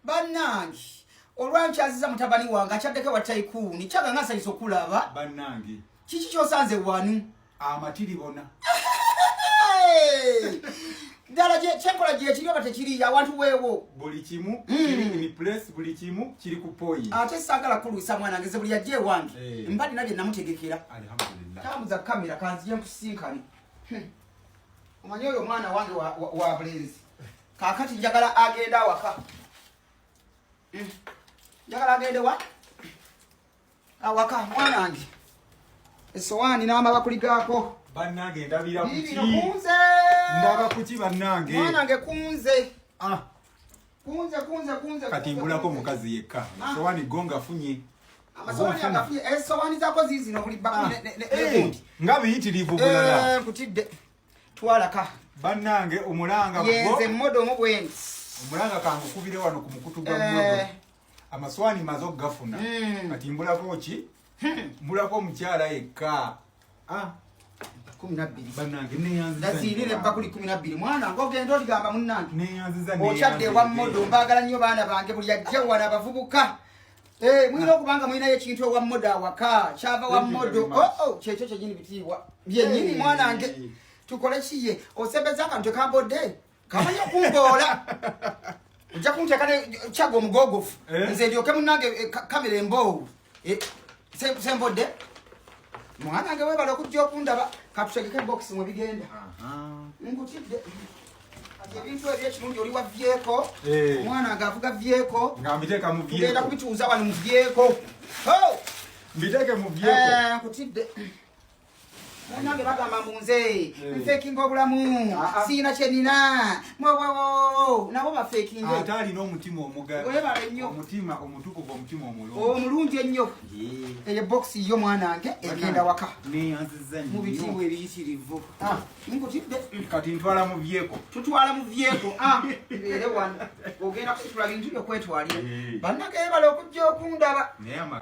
banange olwankyaziza mutabani wange akyaddeko wa taikuuni kyaga nga nsanyisa okulaba banange kiki kyosanze wanu amatiri bona ddala kyenkola gyekiri oba tekiri awantu weewo buli kimu hmm. place buli kimu kiri ku poyi ate saagala kulwisa mwana ngeze buli yajja ewange eh. mba dina bye namutegekera tambuza kamera kanzije nkusinkane hmm. omanyi oyo omwana wange wa bulenzi kakati njagala agende awaka hmm. njagala agende wa awaka mwana wange esowaani n'amabakuli gaako bannange ndabira kuki ndaba kuki bannange mwana nge kunze ah. kunze kunze kunze kati mbulako omukazi yekka ah. sowani go ngafunye esowani eh, zako zizino buli ah. eh, nga biyitirivu bulala eh, kutidde twalaka bannange omulanga yenze mmodo omu bwendi omulanga kangukubire wano ku mukutu gwa eh. mmodo amaswani maze okugafuna hmm. kati mbulako ki hmm. mbulako omukyala yekka ah. kumi nabbiri bannange neyanzizazirire bakuli kumi nabbiri mwana nga ogenda oligamba munnange okyadde ewa mmodo mbaagala nnyo baana bange buli ajja wana abavubuka Eh, mwina okubanga mwinayo ekintu ewa modo awaka kyava wa modo oo oh, oh, kyekyo kyenyini bitiibwa byenyini mwanange tukole kiye osembeza akantu ekambodde kamanyi okumboola ojja kunteeka ne kyaga omugogofu eh? nze ndyoke munange eh, kamera emboowu sembodde mwanange webala okujja okundaba katutegeke bokisi mwebigenda nkutidde ebintu ebyo ekirungi oli wavyeko eh. omwana nga avuga vyeko nga mbiteeka mu vyeko tugenda kubituuza wano mu vyeko mbiteeke mu vyeko eh, nkutidde munange bagamba munze eh. nfekinga obulamu ah, ah. siina kyenina mwowowowo nabo bafekinge ate alina omutima omugaebala ennyo omutima omutukuvu omutima omulungi omulungi ennyo eyo bokisi yo mwanange egenda waka mu bitiibwa ebiyitirivu ah. nkutidde kati ntwala mu byeko tutwala mu byeko ah, tubeere wano ogenda kusitula bintu byokwetwalira eh. bannageyebala okujja okundaba